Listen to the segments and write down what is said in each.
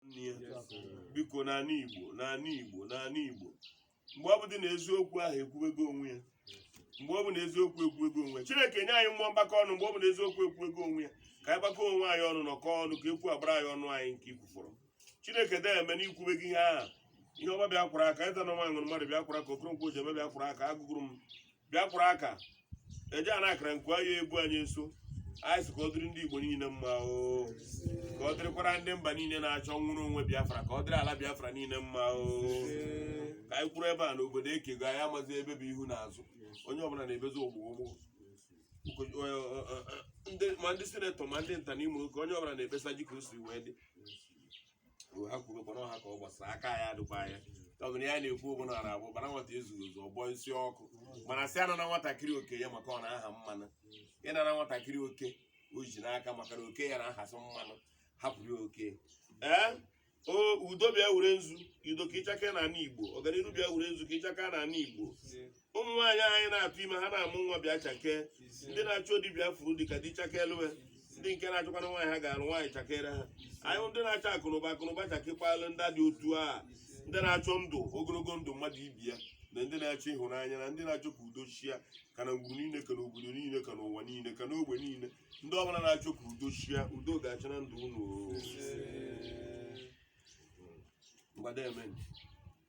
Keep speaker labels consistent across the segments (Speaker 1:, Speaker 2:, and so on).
Speaker 1: nne ya biko n'ala igbo n'ala igbo n'ala igbo mgbe ọ bụ dị na eziokwu ahụ ekwuwego onwe ya mgbe ọ bụ na eziokwu ekwuwego onwe ya chineke nye anyị mmụọ mgbakọ ọnụ mgbe ọ bụ na eziokwu ekwuwego onwe ya ka anyị gbakọ onwe anyị ọnụ nọkọ ọnụ ka ekwu agbara anyị ọnụ anyị nke i kwufọrọ chineke deeme na i kwubego ihe ahụ ihe ọma bịa kwara aka ịta na nwa ṅụrụ mmadụ bịa kwara aka okoronkwo ji eme bịa kwara aka agụgụrụ m bịakwara aka eji ana akara nke anyị egwu anyị nso anyị sị ka ọ dịrị ndị igbo niile mma oo ka ọ dịrịkwara ndị mba niile na-achọ nnwere onwe biafra ka ọ dịrị ala biafra niile mma oo ka anyị kwuru ebe a na obodo ekego anyị amazi ebe bụ ihu na azụ onye ọbụla na-ebezi ogbogbo ma ndị sinetọ ma ndị nta na imo ka onye ọbụla na-ekpesazi ka o si wee dị ha kwurukwa na ọha ka ọ gbasara aka ya adịkwa na ya ọ bụrụ ya na-ekwu ogbona ara abụ bara nwata ezughị ezu ọgbọ isi ọkụ mana sị anana nwatakịrị oke ya maka ọ na-aha mmanụ ị nana nwatakịrị oke o ji n'aka maka na oke ya na-ahasị mmanụ hapụrụ ya oke ee o udo bịa were nzu udo ka ị chakee na ala igbo ọganiru bịa were nzu ka ị chakee na ala igbo ụmụ nwaanyị anyị na-atụ ime ha na-amụ nwa bịa chakee ndị na-achọ di bịa furu di ka di chakelu ha ndị nke na-achọkwana nwaanyị ha ga-alụ nwaanyị chakere ha anyị hụ ndị na-achọ akụnụba akụnụba chakekwalu ndị dị otu a ndị na-achọ ndụ ogologo ndụ mmadụ ibi ya na ndị na-achọ ịhụnanya na ndị na-achọ ka udo chia ka na ngwuru niile ka na obodo niile ka n'ụwa niile ka n'ogbe niile ndị ọbụla na-achọ ka udo chia udo ga-achị na ndụ unu oo. Ngwa deeme nụ.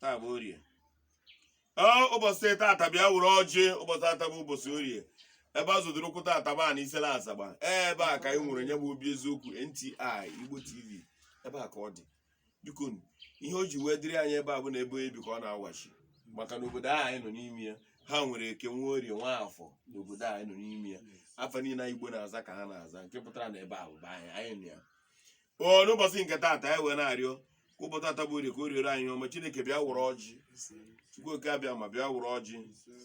Speaker 1: taa bụ orie ee ụbọchị tata bịa were ọjị ụbọchị tata bụ ụbọchị orie ebe a zọtara ụkwụ tata bụ ana isele azagba ee ebe a ka anyị nwere nya bụ obi eziokwu nti igbo tv ebe a ka ọ dị biko nu, ihe o ji wee dịrị anyị ebe a bụ na ebe onye bi ka ọ na-awachi maka na obodo ahụ anyị nọ n'ime ya ha nwere eke nwee orie nwee afọ na obodo ahụ anyị nọ n'ime ya afa niile igbo na-aza ka ha na-aza nke pụtara na ebe a bụ be anyị anyị nọ ya o n'ụbọchị nke taata anyị wee na-arịọ ka ụbọchị taata bụ orie ka o riere anyị ọma chineke bịa were ọjị chukwu oke abịama bịa were ọjị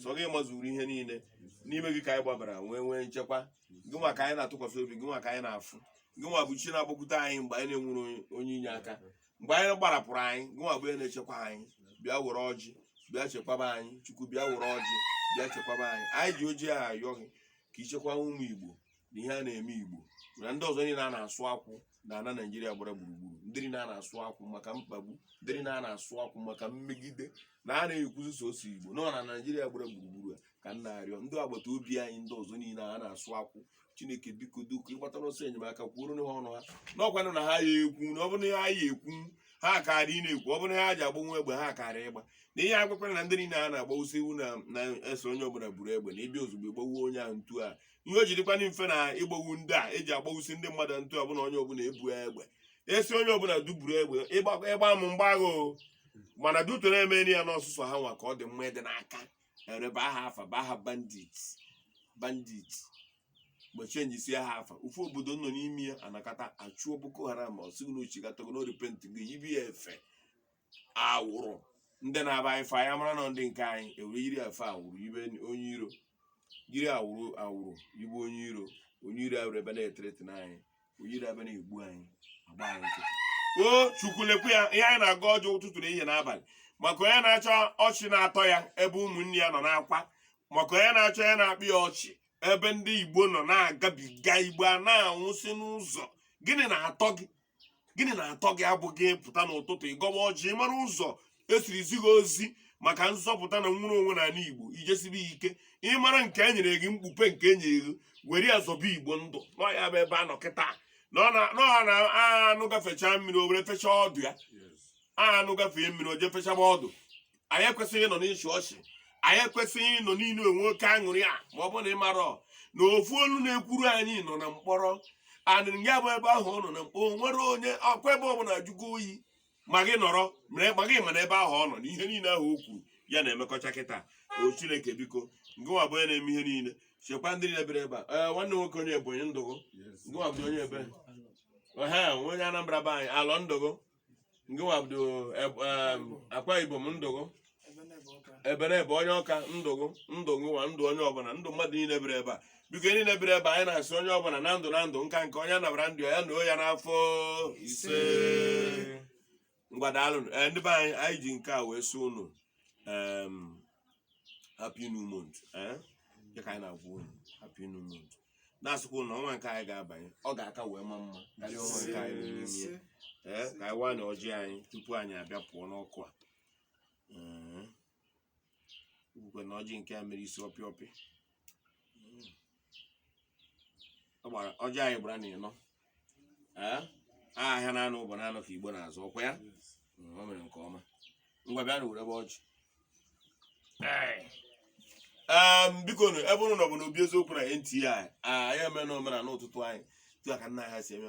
Speaker 1: sọ gị mazuru ihe niile n'ime gị ka anyị gbabara nwee nwee nchekwa gị nwa ka anyị na-atụkwasị obi gị nwa ka anyị na-afụ gị nwa bụ chi na-agbakwute anyị mgbe anyị na-enwere onye- onye inye aka mgbe enyi gbarapụrụ anyị gị nwa bụ onye na-echekwa anyị bịa were ọjị bịa chekwaba anyị chukwu bịa were ọjị bịa chekwaba anyị anyị ji ọjị a ayọ gị ka i chekwaa ụmụ igbo na ihe a na-eme igbo na ndị ọzọ niile a na-asụ akwụ na ana naijiria gbara gburugburu ndị niile a na-asụ akwụ maka mkpagbu ndị niile a na-asụ akwụ maka mmegide na a na-ekwuzi sọsọ igbo nọ na naijiria gbara gburugburu a ka m na-arịọ ndị agbata obi anyị ndị ọzọ niile a na-asụ akwụ chineke biko doo ka ị gbatara ọsọ enyemaka kwuoro ha ọnụ ha n'ọkwanụ na ha ya ekwu na ọ bụrụ na ha ya ekwu ha karị na-ekwu ọ bụrụ na ha ji agba nwa egbe ha karị ịgba na ihe agwakwara na ndị niile a na-agbawusi iwu na-eso onye ọbụla buru egbe na ịbịa ozugbo gbawuo onye ahụ ntu a ihe o ji dịkwanụ mfe na ịgbagbu ndị a eji agbagbusi ndị mmadụ ntụ ọbụla onye ọbụla ebu egbe a sị onye ọbụla duburu egbe ị gbaa m m gbaa gị o mana duto na-emeri ya n'ọsụsọ ha nwa ka ọ dị mma ịdị n'aka e were baa ha afa baa ha bandit bandit gbochie njisi ha afa ofu obodo nọ n'ime ya anakọta achụọ boko haram ọ sị gụ na o chigatago na o repent gị yibe ya efe awụrụ ndị na-aba anyị fa ya mara na ndị nke anyị ewere yiri efe awụrụ ibe onye iro yiri awụrụ awụrụ ibe onye iro onye iro awụrụ ebe na-eterete na anyị onye iro ebe na-egbu anyị agba anyị nkịtị o chukwu lekwa ya ihe anyị na-aga ọjọ ụtụtụ na ehihie n'abalị maka onye na-achọ ọchị na-atọ ya ebe ụmụnne ya nọ n'akwa maka onye na-achọ ya na-akpị ya ọchị ebe ndị igbo nọ na-agabiga igbo a na-anwụsị n'ụzọ gịnị na-atọ gị gịnị na-atọ gị abụ gị pụta n'ụtụtụ ị gọba ọjị ị mara ụzọ e siri zi gị ozi maka nzọpụta na nnwere onwe na ala igbo i jisibe ike ị mara nke e nyere gị mkpupe nke e nyere gị were ya zọba igbo ndụ na ọ ya bụ ebe a nọ kịta na ọ na anụ gafechaa mmiri o were fechaa ọdụ ya anụ gafee mmiri o jee fechaba ọdụ anyị ekwesịghị ịnọ n'ịchị ọchị anyị ekwesịghị ịnọ n'inwe oke aṅụrị a ma ọ bụ na ị marọ na ofu olu na-ekwuru anyị nọ na mkpọrọ anị ya bụ ebe ahụ ọ nọ na mkpọrọ nwere onye ọkwa ebe ọbụla ajụgo oyi ma gị nọrọ ma gị ma na ebe ahụ ọ nọ na ihe niile ahụ o kwuru ya na-emekọcha kịta o chineke biko ngụ nwa bụ onye na-eme ihe niile chekwa ndị niile biri ebe a nwanne nwoke onye ebonyi ndụ gụ ngụ nwa bụ onye ebere onye anambra be anyị alọ ndụ gụ ngụ nwa bụ akwa ibom ndụ gụ ebenebe onye ọka ndụ gụ ndụ nwa ndụ onye ọbụla ndụ mmadụ niile biri ebe a biko ndị niile biri ebe anyị na-asị onye ọbụla na ndụ na ndụ nka nke onye nabara ndụ ya nọọ ya n'afọ isee ngwa daalụ ndị be anyị anyị ji nke a wee sị unu happy new month eh? Dịka anyị na-agwa unu happy new month na-asịkwa unu na ọnwa nke anyị ga-abanye ọ ga-aka wee ma mma karịa ọnwa nke anyị nọ n'ime ya. Ee, ka anyị waa na ọjị anyị tupu anyị abịa pụọ n'ọkụ a Ee. Ukwukwe na ọjị nke a mere isi ọpịa ọpịa gbara ọjị anyị gbara na ịnọ Ee, a ahịa na anọ ụbọ na anọ ka igbo na-azụ ọkwa ya Mm, o mere nke ọma ngwa bịanụ werebe ọjị Ee, em, bikonụ ebe unu nọ bụ n'obi eziokwu na NTI anyị eme na omenala ụtụtụ anyị etu aka nna ha si eme